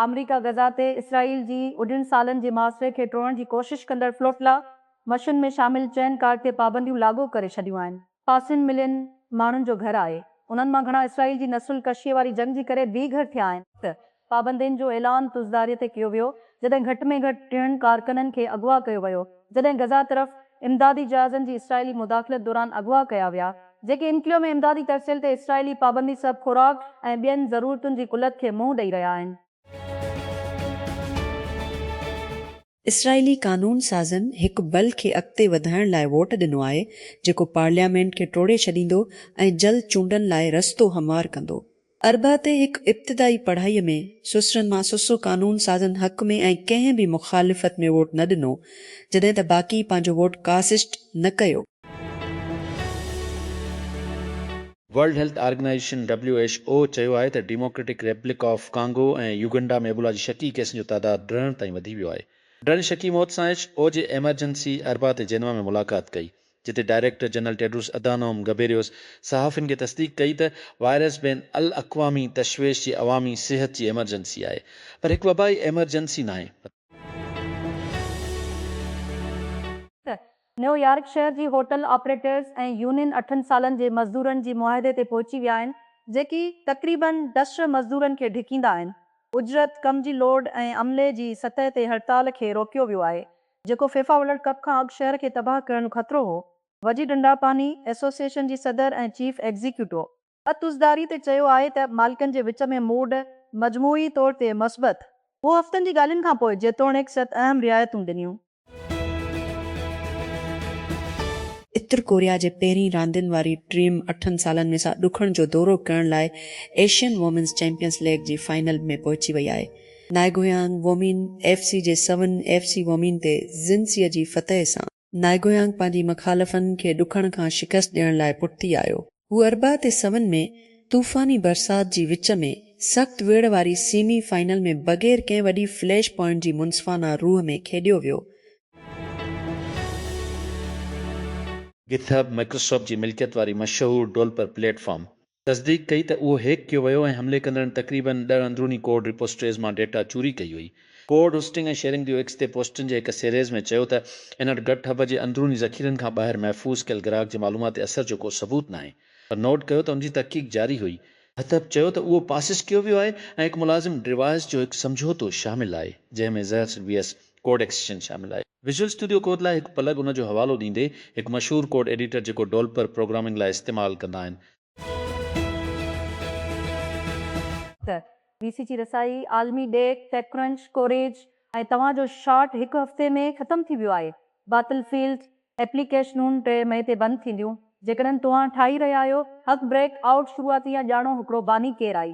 آمريڪا غزه تي اسرائيل جي اڍين سالن جي محاصري کي ٽوڙڻ جي ڪوشش ڪندڙ فلوٽلا مشن ۾ شامل چئن ڪارڊ تي پابنديون لاڳو ڪري ڇڏيون آهن. پاسين ملين ماڻهن جو گهر آهي. انهن مان گهڻا اسرائيل جي نسل ڪشيء واري جنگ جي ڪري بي گهر ٿيا آهن. پابندين جو اعلان تزداري تي ڪيو ويو، جڏهن گهٽ ۾ گهٽ ٽيهن ڪارڪنن کي اغوا ڪيو ويو، جڏهن غزه طرف امدادي جهازن جي اسرائيلي مداخلت دوران اغوا ڪيا ويا، جيڪي انڪليو ۾ امدادي ترسيل تي اسرائيلي پابندي سبب خوراڪ ۽ ٻين ضرورتن جي قلت کي منهن ڏئي رهيا آهن. اسرائيلي قانون سازن هڪ بل کي اڳتي وڌائڻ لاء ووٽ ڏنو آهي جيڪو پارليامينٽ کي ٽوڙي ڇڏيندو ۽ جلد چونڊن لاء رستو هموار ڪندو. اربع تي هڪ ابتدائي پڙهائي ۾ سوسرن مان سوسو قانون سازن حق ۾ ۽ ڪنهن به مخالفت ۾ ووٽ نه ڏنو جڏهن ته باقي پنهنجو ووٽ ڪاسٽ نه ڪيو. World Health Organization, W H O, چيو آهي ته Democratic Republic of Congo ۽ Uganda ۾ Ebola جي شڪي ڪيسن جو تعداد ڊرڻ تائين وڌي ويو آهي. ڊرڻ شڪي موت سان ايڇ او جي ايمرجنسي اربع تي جينوا ۾ ملاقات ڪئي، جتي director general Tedros Adhanom Ghebreyesus صحافين کي تصديق ڪئي ته وائرس بين الاقوامي تشويش جي عوامي صحت جي ايمرجنسي آهي، پر هڪ وبائي ايمرجنسي ناهي. نيويارڪ شهر جي هوٽل آپريٽرز ۽ يونين اٺن سالن جي مزدورن جي معاهدي تي پهچي ويا آهن، جيڪي تقريباً ڊسٽر مزدورن کي ڍڪيندا آهن. اجرت، ڪم جي لوڊ ۽ عملي جي سطح تي هڙتال کي روڪيو ويو آهي، جيڪو فيفا ورلڊ ڪپ کان اڳ شهر کي تباهه ڪرڻ جو خطرو هو. وجي ڊنڊاپاني ايسوسيئيشن جي صدر ۽ چيف ايگزيڪيوٽو اتوزداري تي چيو آهي ته مالڪن جي وچ ۾ موڊ مجموعي طور تي مثبت هو هفتن جي ڳالهين کان پوء جيتوڻيڪ ست اهم رعايتون ڏنيون. اتر ڪوريا جي پهرين راندين واري ٽيم اٺن سالن ۾ سا ڏکڻ جو دورو ڪرڻ لاء ايشين وومينز چيمپيئنز ليگ جي فائنل ۾ پهچي وئي آهي. نائگويانگ وومين ايف سي جي سون ايف سي وومين تي زنسي جي فتح سان. نائگويانگ پنهنجي مخالفن کي ڏکڻ کان شڪست ڏيڻ لاء پٺتي آيو. هو اربع تي سون ۾ طوفاني برسات جي وچ ۾ سخت ويڙهه واري سيمي فائنل ۾ بغير ڪنهن وڏي فليش پوائنٽ جي منصفانه روح ۾ کيڏيو ويو. گٿ هب مائڪروسافٽ جي ملڪيت واري مشهور ڊولپر پليٽ فارم تصديق ڪئي ته اهو هيڪ ڪيو ويو ۽ حملي ڪندڙن تقريباً ڏهه اندروني ڪوڊ رپوسٽريز مان ڊيٽا چوري ڪئي هئي. ڪوڊ هوسٽنگ ۽ شيئرنگ ديو ايڪس تي پوسٽن جي هڪ سيريز ۾ چيو ته ان وٽ گٽ هب جي اندروني ذخيرن کان ٻاهر محفوظ ڪيل گراهڪ جي معلومات تي اثر جو ڪو ثبوت ناهي پر نوٽ ڪيو ته ان جي تحقيق جاري هئي. هٿپ چيو ته اهو پاسس ڪيو ويو آهي ۽ هڪ ملازم ڊوائس جو هڪ سمجهوتو شامل آهي جنهن ۾ زهر سلبي هيس ڪوڊ ايڪسٽينشن شامل آهي. ويزوئل اسٽوڊيو ڪوڊ لاء هڪ پلگ ان جو حوالو ڏيندي، هڪ مشهور ڪوڊ ايڊيٽر جيڪو ڊولپر پروگرامنگ لاء استعمال ڪندا آهن. ته وي سي جي رسائي، عالمي ڏيک، ٽيڪ ڪرنچ ڪوريج ۽ توهان جو شاٽ هڪ هفتي ۾ ختم ٿي ويو آهي. باتل فيلڊ ايپليڪيشنون ٽي مئي تي بند ٿينديون. جيڪڏهن توهان ٺاهي رهيا آهيو، هڪ بريڪ آئوٽ شروعاتي يا ڄاڻو هڪڙو باني ڪير آهي.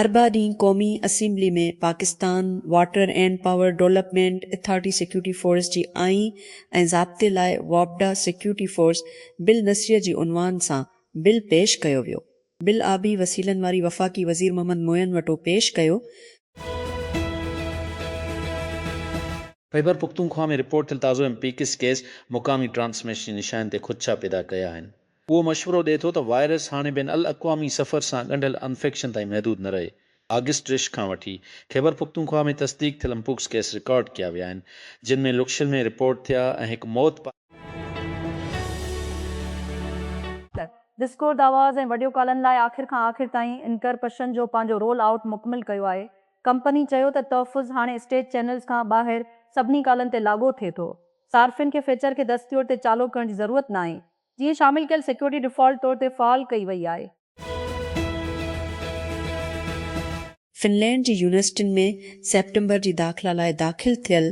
اربع ڏينهن قومي assembly ۾ Pakistan water and power development authority security force جي آئين ۽ ضابطي لاء واپڊا سيڪيورٽي فورس بل نصريه جي عنوان سان بل پيش ڪيو ويو بل آبي وسيلن واري وفاقي وزير محمد معين وٽو پيش ڪيو خيبر پختونخوا ۾ رپورٽ ٿيل تازو ايم پي ڪس ڪيس مقامي ٽرانسميشن جي نشانين تي خدشا پيدا ڪيا آهن. اهو مشورو ڏئي ٿو ته وائرس هاڻي بين الاقوامي سفر سان ڳنڍيل انفيڪشن تائين محدود نه رهي. آگسٽ رش کان وٺي، خيبر پختونخوا ۾ تصديق ٿيل مپوڪس ڪيس رڪارڊ ڪيا ويا آهن، جن ۾ لڪشل ۾ رپورٽ ٿيا ۽ هڪ موت پاڻ. ته ڊسڪورد آواز ۽ وڊيو ڪالن لاء آخر کان آخر تائين انڪرپشن جو پنهنجو رول آئوٽ مڪمل ڪيو آهي. ڪمپني چيو ته تحفظ هاڻي اسٽيٽ چينلز کان ٻاهر سڀني ڪالن تي لاڳو ٿئي ٿو. صارفين کي فيچر کي دستيور تي چالو ڪرڻ جي ضرورت ناهي. جيئن شامل ڪيل سيڪيورٽي ڊيفالٽ طور تي فعال ڪئي وئي آهي. فنلينڊ جي يونيورسٽين ۾ سيپٽمبر جي داخلا لاء داخل ٿيل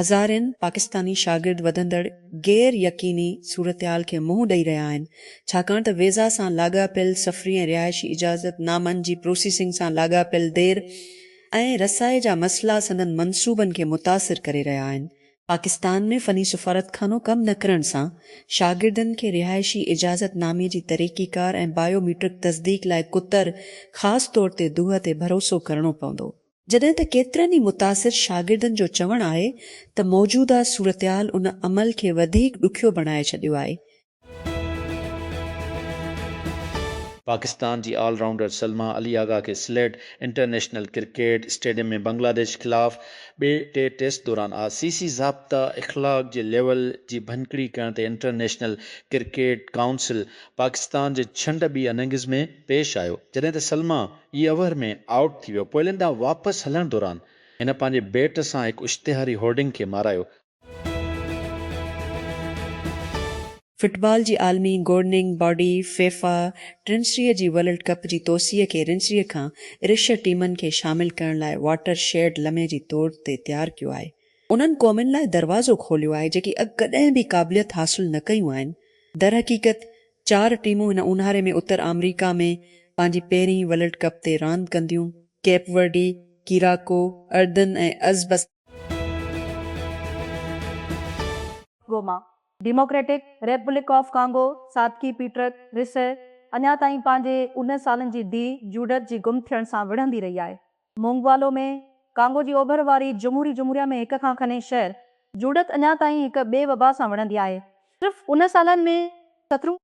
هزارين پاڪستاني شاگرد وڌندڙ غير يقيني صورتحال کي منهن ڏئي رهيا آهن ڇاڪاڻ ته ويزا سان لاڳاپيل سفري ۽ رهائشي اجازت نامن جي پروسيسنگ سان لاڳاپيل دير ۽ رسائي جا مسئلا سندن منصوبن کي متاثر ڪري رهيا آهن پاڪستان ۾ فني سفارتخانو ڪم نه ڪرڻ سان شاگردن کي رهائشي اجازت نامي جي طريقي ڪار ۽ بايو ميٽرڪ تصديق لاء ڪتر خاص طور تي دوهه تي ڀروسو ڪرڻو پوندو، جڏهن ته ڪيترن ئي متاثر شاگردن جو چوڻ آهي ته موجوده صورتحال ان عمل کي وڌيڪ ڏکيو بڻائي ڇڏيو آهي پاڪستان جي آل رائونڊر سلما علي آغا کي Sylhet international cricket stadium ۾ Bangladesh خلاف ٻئي ٽي ٽيسٽ دوران آء سي سي ضابطه اخلاق جي ليول جي ڀڃڪڙي ڪرڻ تي انٽرنيشنل ڪرڪيٽ ڪائونسل پاڪستان جي ڇنڊ ٻي اننگز ۾ پيش آيو جڏهن ته سلما اي اوور ۾ آئوٽ ٿي ويو پويلين ڏانهن واپس هلڻ دوران هن پنهنجي بيٽ سان هڪ اشتهاري هورڊنگ کي مارايو فٽبال جي عالمي گورننگ باڊي فيفا ٽرنسريء جي ورلڊ ڪپ جي توسيع کي رنسريء کان رشهه ٽيمن کي شامل ڪرڻ لاء واٽر شيڊ لمحي جي طور تي تيار ڪيو آهي. انهن قومن لاء دروازو کوليو آهي جيڪي اڳ ڪڏهن به قابليت حاصل نه ڪيون آهن. درحقيقت چار ٽيمون هن اونهاري ۾ اتر آمريڪا ۾ پنهنجي پهرين ورلڊ ڪپ تي راند ڪنديون، ڪيپ ورڊي، ڪيراڪو، اردن ۽ ازبستان. Goma, Democratic Republic of Congo, ساڌڪي پيٽرڪ، رسه، اڃا تائين پنهنجي انهن سالن جي ڌيء جوڊٿ جي گم ٿيڻ سان وڙهندي رهي آهي. مونگوالو ۾ ڪانگو جي اوڀر واري جمهوري جمهوريه ۾ هڪ کان کني شهر، جوڊٿ اڃا تائين هڪ ٻئي وبا سان وڙهندي آهي. صرف انهن سالن ۾ سترون.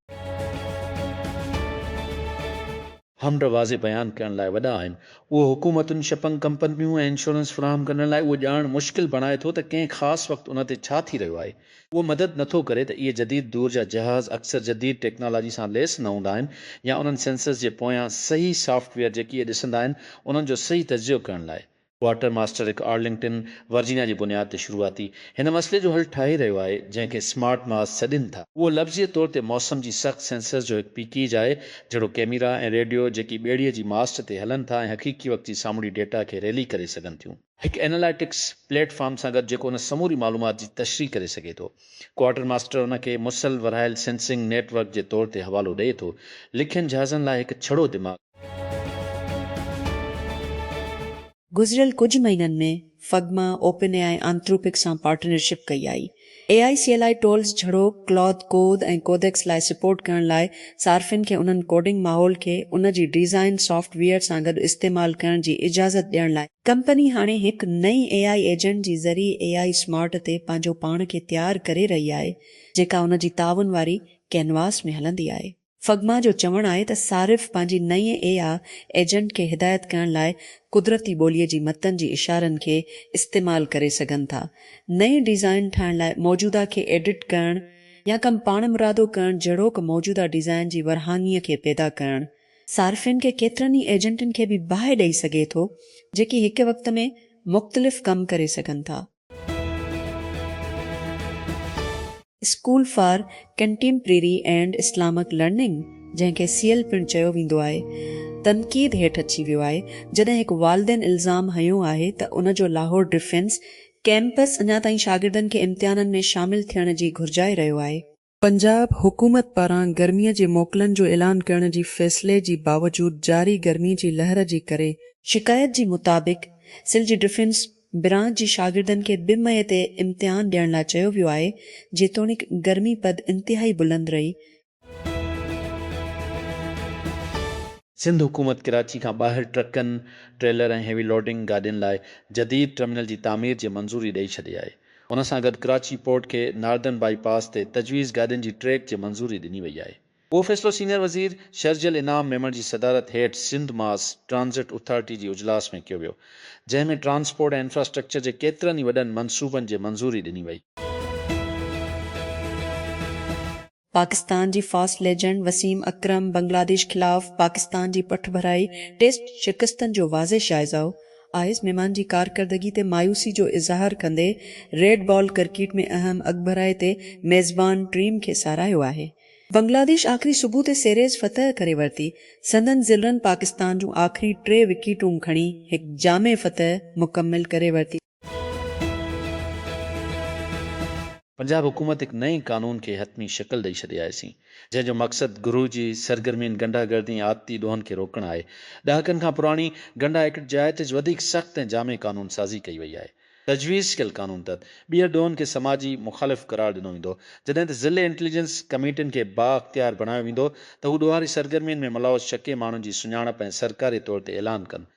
همرا واضح بيان ڪرڻ لاء وڏا آهن. اهو حڪومتن، شپنگ ڪمپنيون ۽ انشورنس فراهم ڪندڙن لاء اهو ڄاڻڻ مشڪل بڻائي ٿو ته ڪنهن خاص وقت ان تي ڇا ٿي رهيو آهي. اهو مدد نه ٿو ڪري ته اهي جديد دور جا جهاز اڪثر جديد ٽيڪنالاجي سان ليس نه هوندا آهن يا انهن سينسرز جي پويان صحيح سافٽ ويئر جيڪي اهي ڏسندا آهن انهن جو صحيح تجزيو ڪرڻ لاء ڪوارٽر ماسٽر هڪ آرلنگٽن، ورجينيا جي بنياد تي شروعاتي هن مسئلي جو حل ٺاهي رهيو آهي، جنهن کي Smart Mars سڏين ٿا. اهو لفظي طور تي موسم جي سخت سينسرز جو هڪ پيڪيج آهي، جهڙوڪ ڪيميرا ۽ ريڊيو، جيڪي ٻيڙيء جي ماسٽ تي هلن ٿا ۽ حقيقي وقت جي سامونڊي ڊيٽا کي ريلي ڪري سگهن ٿيون. هڪ ايناليٽڪس پليٽ فارم سان گڏ جيڪو ان سموري معلومات جي تشريح ڪري سگهي ٿو. ڪوارٽر ماسٽر ان کي مسئل ورهايل سينسنگ نيٽ ورڪ جي طور تي حوالو ڏئي ٿو. لکين جهازن لاء هڪ ڇڙو دماغ. گذريل ڪجهه مهينن ۾ Figma, OpenAI ۽ Anthropic سان پارٽنرشپ ڪئي آهي. اي آء سي ايل آء ٽولز جھڙو ڪلاٿ ڪوڊ ۽ ڪوڊيڪس لاء سپورٽ ڪرڻ لاء صارفين کي انهن ڪوڊنگ ماحول کي ان جي ڊيزائن سافٽ ويئر سان گڏ استعمال ڪرڻ جي اجازت ڏيڻ لاء ڪمپني هاڻي هڪ نئين اي آء ايجنٽ جي ذريعي اي آء سمارٽ تي پنهنجو پاڻ کي تيار ڪري رهي آهي جيڪا ان جي تعاون واري ڪينواس ۾ هلندي آهي. فگما جو چوڻ آهي ته صارف پنهنجي نئين اي آء ايجنٽ کي هدايت ڪرڻ لاء قدرتي ٻوليء جي متن جي اشارن کي استعمال ڪري سگهن ٿا. نئين ڊيزائن ٺاهڻ لاء موجوده کي ايڊٽ ڪرڻ يا ڪم پاڻمرادو ڪرڻ جهڙوڪ موجوده ڊيزائن جي ورهاڱي کي پيدا ڪرڻ، صارفين کي ڪيترن ئي ايجنٽن کي به باهه ڏئي سگهي ٿو، جيڪي هڪ وقت ۾ مختلف ڪم ڪري سگهن ٿا. School for contemporary and Islamic learning, جنهن کي سيل پڻ چيو ويندو آهي، تنقيد هيٺ اچي ويو آهي، جڏهن هڪ والدين الزام هنيو آهي ته ان جو لاهور ڊفينس ڪيمپس اڃا تائين شاگردن کي امتحانن ۾ شامل ٿيڻ جي گهرجائي رهيو آهي. پنجاب حڪومت پاران گرمي جي موڪلن جو اعلان ڪرڻ جي فيصلي جي باوجود جاري گرمي جي لهر جي ڪري، شڪايت جي مطابق سل جي ڊفينس برانچ جي شاگردن کي ٻه مئي تي امتحان ڏيڻ لاء چيو ويو آهي، جيتوڻيڪ گرمي پد انتهائي بلند رهي. سنڌ حڪومت ڪراچي کان ٻاهر ٽرڪن، ٽريلر ۽ هيوي لوڊنگ گاڏين لاء جديد ٽرمينل جي تعمير جي منظوري ڏئي ڇڏي آهي. ان سان گڏ ڪراچي پورٽ کي ناردرن بائي پاس تي تجويز گاڏين جي ٽريڪ جي منظوري ڏني وئي آهي. اهو فيصلو سينئر وزير شرجيل انعام ميمڻ جي صدارت هيٺ سنڌ ماس ٽرانزٽ اٿارٽي جي اجلاس ۾ ڪيو ويو، جنهن ۾ ٽرانسپورٽ ۽ انفراسٽرڪچر جي ڪيترن ئي وڏن منصوبن جي منظوري ڏني وئي. پاڪستان جي فاسٽ ليجنڊ وسيم اڪرم بنگلاديش خلاف پاڪستان جي پٺڀرائي ٽيسٽ شڪستن جو واضح جائزو آئس ميمان جي ڪارڪردگي تي مايوسي جو اظهار ڪندي ريڊ بال ڪرڪيٽ ۾ اهم اڳڀرائي تي ميزبان ٽيم کي ساراهيو آهي. بنگلاديش آخري صبح تي سيريز فتح ڪري ورتي، سندن زلرن پاڪستان جون آخري ٽي وڪيٽون کڻي هڪ جامع فتح مڪمل ڪري ورتي. پنجاب حڪومت هڪ نئين قانون کي حتمي شڪل ڏئي ڇڏي آهي سين جنهن جو مقصد گروهه جي سرگرمين غنڊا گردي ۽ آپتي ڏوهن کي روڪڻ آهي ڏهاڪن کان پراڻي غنڊا ايڪٽ جيائتج وڌيڪ سخت ۽ جامع قانون سازي ڪئي وئي آهي تجويز ڪيل قانون تحت ٻيهر ڏوهن کي سماجي مخالف قرار ڏنو ويندو جڏهن ته ضلعي انٽيليجنس ڪميٽين کي با اختيار بڻايو ويندو ته هو ڏوهاري سرگرمين ۾ ملوث شڪي ماڻهن جي سڃاڻپ ۽ سرڪاري طور تي اعلان ڪن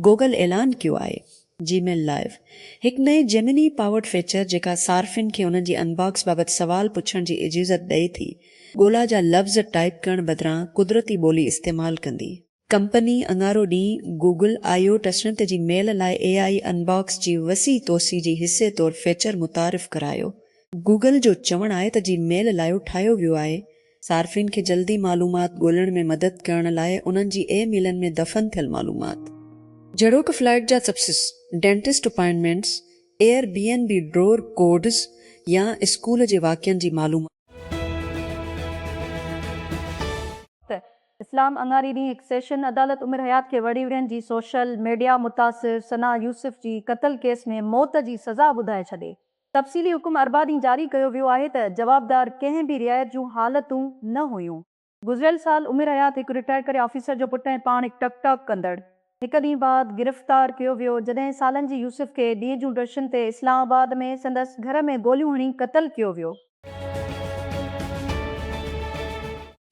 گوگل اعلان ڪيو آهي جي ميل لائيو، هڪ نئين جيمني پاورڊ فيچر جيڪا صارفين کي انهن جي انباڪس بابت سوال پڇڻ جي اجيزت ڏئي ٿي، ڳولا جا لفظ ٽائيپ ڪرڻ بدران قدرتي ٻولي استعمال ڪندي. ڪمپني اڱارو ڏينهن گوگل آئي او ٽسنت جي ميل لاء اي آئي انباڪس جي وسيع توسيع جي حصي طور فيچر متعارف ڪرايو. گوگل جو چوڻ آهي ته جي ميل لائيو ٺاهيو ويو آهي صارفين کي جلدي معلومات ڳولڻ ۾ مدد ڪرڻ لاء انهن جي اي ميلن ۾ دفن ٿيل معلومات، جهڙوڪ فلائيٽ جا سپسس، dentist appointments, Airbnb ڊرور codes يا اسڪول جي واقعن جي معلومات. ته اسلام اڱاري ڏينهن هڪ سيشن عدالت عمر حيات کي وڙهيوڙين جي سوشل ميڊيا متاثر ثنا يوسف جي قتل ڪيس ۾ موت جي سزا ٻڌائي ڇڏي. تفصيلي حڪم اربع ڏينهن جاري ڪيو ويو آهي ته جوابدار ڪنهن به رعايت جون حالتون نه هيون. گذريل سال عمر حيات هڪ رٽائر ڪري آفيسر جو پٽ ۽ پاڻ هڪ ٽڪ ٽاڪ ڪندڙ هڪ ڏينهن بعد گرفتار ڪيو ويو جڏهن سالن جي يوسف کي ڏينهن جون ڊرشن تي اسلام آباد ۾ سندس گهر ۾ گوليون هڻي قتل ڪيو ويو.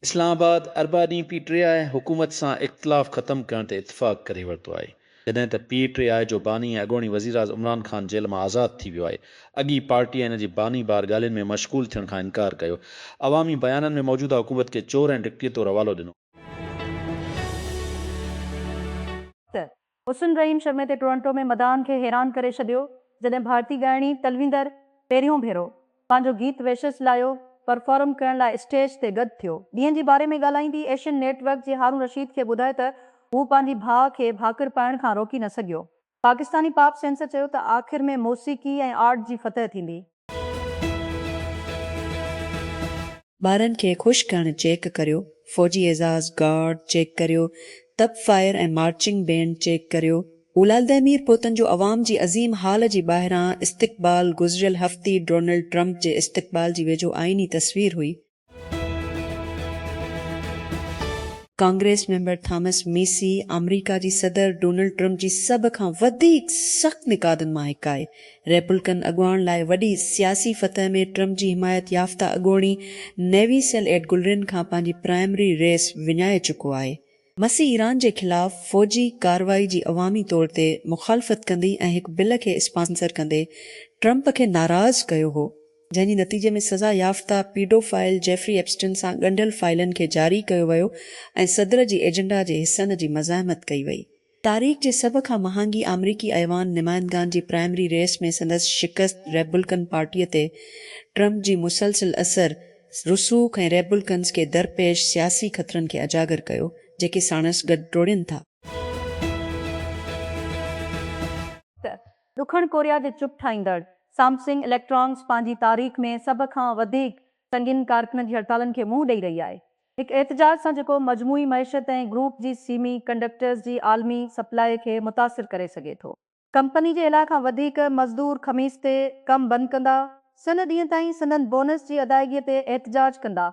اسلام آباد اربع ڏينهن پي ٽي آء حڪومت سان اختلاف ختم ڪرڻ تي اتفاق ڪري ورتو آهي، جڏهن ته پي ٽي آء جو باني ۽ اڳوڻي وزيراعظ عمران خان جيل مان آزاد ٿي ويو آهي، اڳي پارٽي ۽ ان جي باني بار ڳالهين ۾ مشغول ٿيڻ کان انڪار ڪيو، عوامي بيانن ۾ موجوده حڪومت کي چور ۽ ڊڪٽي طور حوالو ڏنو. ته حسن رحيم شمعي تي ٽورنٽو ۾ مداحن کي حيران ڪري ڇڏيو جڏهن ڀارتي ڳائڻي تلويندر پهريون ڀيرو پنهنجو گيت ويشس لايو پرفارم ڪرڻ لاء اسٽيج تي گڏ ٿيو. ڏينهن جي باري ۾ ڳالهائيندي ايشين نيٽ ورڪ جي هارون رشيد کي ٻڌايو ته هو پنهنجي ڀاء کي ڀاڪر پائڻ کان روڪي نه سگهيو. پاڪستاني پاپ سينسر چيو ته آخر ۾ موسيقي ۽ آرٽ جي فتح ٿيندي. ٻارن کي خوش ڪرڻ چيڪ ڪريو، فوجي اعزاز گارڊ چيڪ ڪريو، تپ فائر ۽ مارچنگ بينڊ چيڪ ڪريو. اولادئ مير پوتن جو عوام جي عظيم هال جي ٻاهران استقبال گذريل هفتي ڊونلڊ ٽرمپ جي استقبال جي ويجهو آئيني تصوير هئي. ڪانگريس ميمبر ٿامس ميسي آمريڪا جي صدر ڊونلڊ ٽرمپ جي سڀ کان وڌيڪ سخت نقادن مان هڪ آهي. ريپلڪن اڳواڻ لاء وڏي سياسي فتح ۾ ٽرمپ جي حمايت يافته اڳوڻي نيوي سيل ايڊ گلرين کان پنهنجي پرائمري ريس وڃائي چڪو آهي. ميسي ايران جي خلاف فوجي ڪارروائي جي عوامي طور تي مخالفت ڪندي ۽ هڪ بل کي اسپانسر ڪندي ٽرمپ کي ناراض ڪيو هو. جنهن جي نتيجي ۾ سزا يافته پيڊو فائل جيفري ايپسٽن سان ڳنڍيل فائلن کي جاري ڪيو ويو ۽ صدر جي ايجنڊا جي حصن جي مزاحمت ڪئي وئي. تاريخ جي سڀ کان مهانگي آمريڪي ايوان نمائندگان جي پرائمري ريس ۾ سندس شڪست ريپبلڪن پارٽيء تي ٽرمپ جي مسلسل اثر رسوخ ۽ ريپبلڪنز کي درپيش سياسي خطرن کي اجاگر ڪيو جيڪي ساڻس گڏ ڊوڙين ٿا. ڏکڻ ڪوريا جي چپ ٺاهيندڙ سامسنگ اليڪٽرانڪس پنهنجي تاريخ ۾ سڀ کان وڌيڪ سنگين ڪارڪنن جي هڙتالن کي منهن ڏئي رهي آهي. هڪ احتجاج سان جيڪو مجموعي معيشت ۽ گروپ جي سيمي ڪنڊڪٽرز جي عالمي سپلاء کي متاثر ڪري سگهي ٿو. ڪمپني جي الاء کان وڌيڪ مزدور خميس تي ڪم بند ڪندا. سن ڏينهن تائين سندن بونس جي ادائيگي تي احتجاج ڪندا.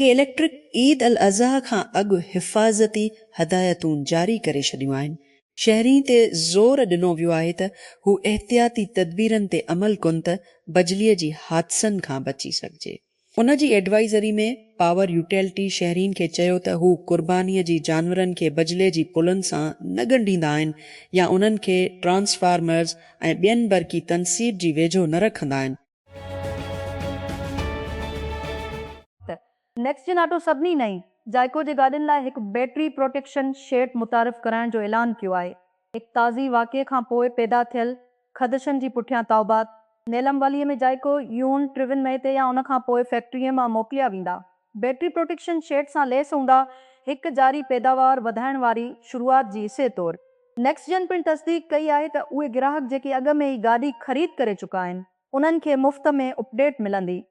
ڪي اليڪٽرڪ عيد الاضحيٰ کان اڳ حفاظتي هدايتون جاري ڪري ڇڏيون آهن، شهرين تي زور ڏنو ويو آهي ته هو احتياطي تدبيرن تي عمل ڪن ته بجلي جي حادثن کان بچي سگهجي. ان جي ايڊوائزري ۾ پاور يوٽيلٽي شهرين کي چيو ته هو قرباني جي جانورن کي بجلي جي پلن سان نه ڳنڍيندا آهن يا انهن کي ٽرانسفارمرز ۽ ٻين برقي تنصيب جي ويجهو نه رکندا آهن، نيڪسجين آٽو سڀني نئين زائقو جي گاڏين لاء هڪ بيٽري پروٽيڪشن شيٽ متعارف ڪرائڻ جو اعلان ڪيو آهي. هڪ تازي واقعي کان پوء پيدا ٿيل خدشن جي پٺيان تائوبات نيلم واليء ۾ زائقو يون ٽيون مئي تي يا ان کان پوء فيڪٽريء مان موڪليا ويندا. بيٽري پروٽيڪشن شيٽ سان ليس هوندا، هڪ جاري پيداوار وڌائڻ واري شروعات جي حصي طور نيڪسٽ جين پڻ تصديق ڪئي آهي ته اهي گراهڪ جيڪي اڳ ۾ ئي گاڏي خريد ڪري چڪا آهن انهن کي مفت ۾ اپڊيٽ ملندي.